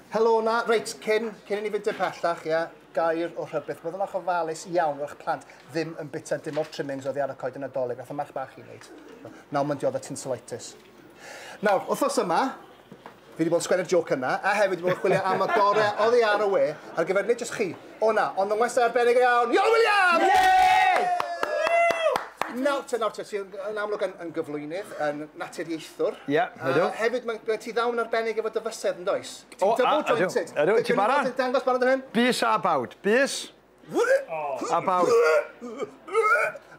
Helo 'na. Reit, cyn, cyn i ni fynd dim pellach, ie, gair o rhybith. Byddwn o'ch ofalus iawn fod eich plant ddim yn bita dim o'r trimmings oddi ar y coed y Nadolig, nath y merch bach i wneud. Nawr mae'n dioddef tinselitis. Nawr, wythnos yma, fi wedi bod yn sgwennu'r joc yna, a hefyd wedi bod yn chwilio am y gore oddi ar y we ar gyfer nid jyst chi, O na, ond yn westai arbennig o iawn, Iolo Williams! Ie! Nawr te, nawr te, ti yn amlwg yn, yn gyflwynydd, yn naturiaethwr. Ie, yeah, ydw. A hefyd, mae gen ti ddawn arbennig efo dy fysedd yn does? Ti'n double jointed. Ydw, ydw, ti'n barod? Ti'n dangos barod yn hyn? Bys a bawd, bys. A bawd.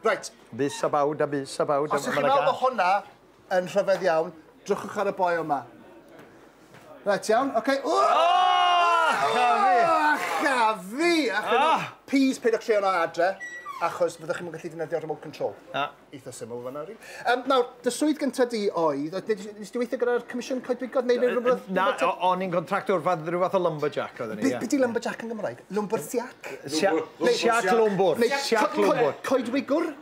Right. Bys a bawd, a bys a bawd. Os ydych chi'n meddwl bod hwnna Yn rhyfedd iawn. Drychwch ar y boi yma. Reit, iawn. Oce. Okay. Oh! Oh! A cha fi! A cha fi! Please, peidio treo na adre, achos fyddwch chi'n gallu defnyddio remote control. Na. Eitha syml fanna, rili. Um, nawr, dy swydd gyntaf di oedd, nes di weithio gyda'r Comisiwn Coedwigoedd neu rhywbeth? Na, o'n i'n contractor, rhyw fath o lumberjack oedd ni. Be di lumberjack yn Gymraeg? Lumbersiac? Siac lwmbwr. Siac lwmbwr. Coedwigwr?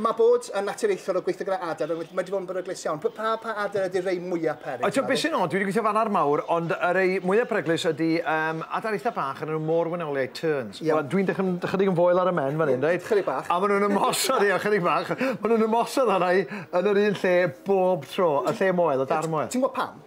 Mae bod yn naturiaethwr o gweithio gyda adar, mae wedi bod yn beryglus iawn. Pa, pa, pa adar ydy'r rei mwyaf peryg? Ti'n beth sy'n od, dwi wedi gweithio fan ar mawr, ond y rei mwyaf peryglus ydy um, adar eitha bach yn nhw môr wenoliaid, terns. Yeah. Well, dwi'n dechrau'n ychydig yn foel ar y men fan hyn, reit? Ychydig bach. A maen nhw'n ymosod, ie, ychydig bach. Maen nhw'n ymosod arna i yn yr un lle bob tro, y lle moel, y dar moel. Ti'n gwybod pam?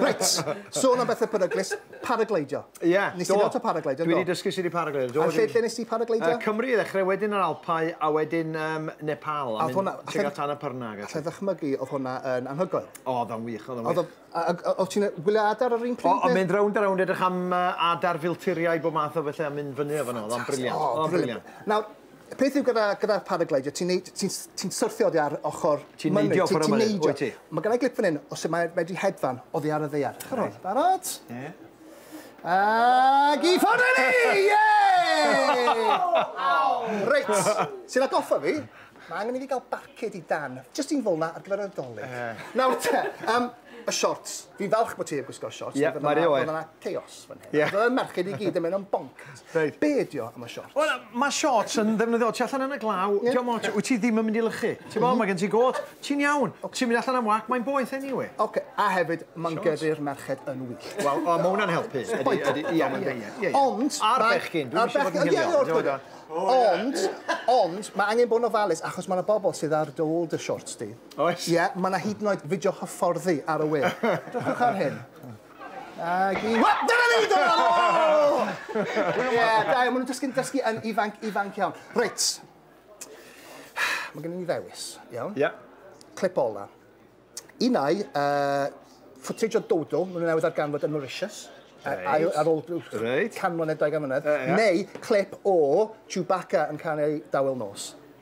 Reit, sôn am bethau peryglus, paragleidio. Ie, yeah, do. Nes ti gael paragleidio, do? Dwi wedi dysgu sydd i paragleidio, do. A lle, lle nes ti paragleidio? Uh, Cymru i ddechrau, wedyn yr Alpau, a wedyn um, Nepal. A oedd hwnna... Tega tan y pyrna. Allai ddychmygu, oedd hwnna yn anhygoel. O, oedd o'n wych, oedd o'n wych. Oedd ti'n gwylio adar ar un pryd? O, mynd rownd a rownd, edrych am adar filturiau, bob math o bethau, a mynd fyny o fanno, oedd o'n briliant. Oedd o'n briliant. Nawr, Y peth yw gyda, gyda'r paragleidio, ti'n ti, ti syrthio oddi ar ochr Ti'n neidio ochr yma, wyt ti? Mae gennau glip fan hyn, os mae wedi hedfan oddi ar y ddeiar. Chwr hwn, barod? Ie. Ag i ffordd ni! Ie! Reit, sy'n atgoffa fi, mae angen i fi gael barcud i dan. Just un fol na ar gyfer y dolydd. Nawr te, um, y shorts. Fi'n falch bod ti yn gwisgo shorts. Ie, yeah, mae rhywbeth. Oedd yna chaos fan hyn. Yeah. Oedd yna merched i gyd yn mynd o'n bonc. Reit. Be' ydi o am y shorts? Wel yy ma' shorts yn ddefnyddiol. Ti allan yn y glaw, 'di o'm ots, wyt ti ddim yn mynd i lychu. Ti w'bo' ma' gen ti gôt, ti'n iawn. Ti'n mynd allan am wac, mae'n boeth eniwe. Oce, a hefyd ma'n gyrru'r merched yn wyllt. Wel o ma' wnna'n helpu. Ydi ydi ie ma'n ie ie ie. Ond ma'... A'r bechgyn dwi'm isio bod yn hiliol. Ond ond ma' angen bod yn ofalus achos ma' 'na bobol sydd ar dy ôl dy shorts di. Oes. Ie ma' 'na hyd yn oed fideo hyfforddi ar y we. Drychwch ar hyn. Agi. Wel, dyna ni! Dyna fo! Ie, da iawn. Maen nhw'n dysgu'n dysgu yn ifanc, ifanc iawn. Reit. Mae gen i ni ddewis, iawn? Ie. Clip ola. Un ai, uh, footage o Dodo, maen nhw'n newydd ar ganfod yn Mauritius. Reit. Ail, ar ôl Reit. can mlynedd, dau gan mlynedd. Neu clip o Chewbacca yn cael ei dawel nos.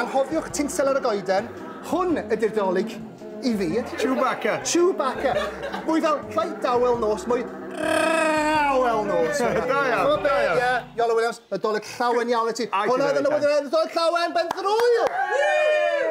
Anghofiwch tinsel ar y goeden. Hwn ydy'r Dolig i fi. Chewbacca. Chewbacca. Mwy fel rhai dawel nos, mwy rhawel nos. Da iawn, da iawn. Ie, Iolo Williams, y Dolig llawen iawn i ti. Hwnna oedd yn y Dolig llawen, ben drwyl! Woo!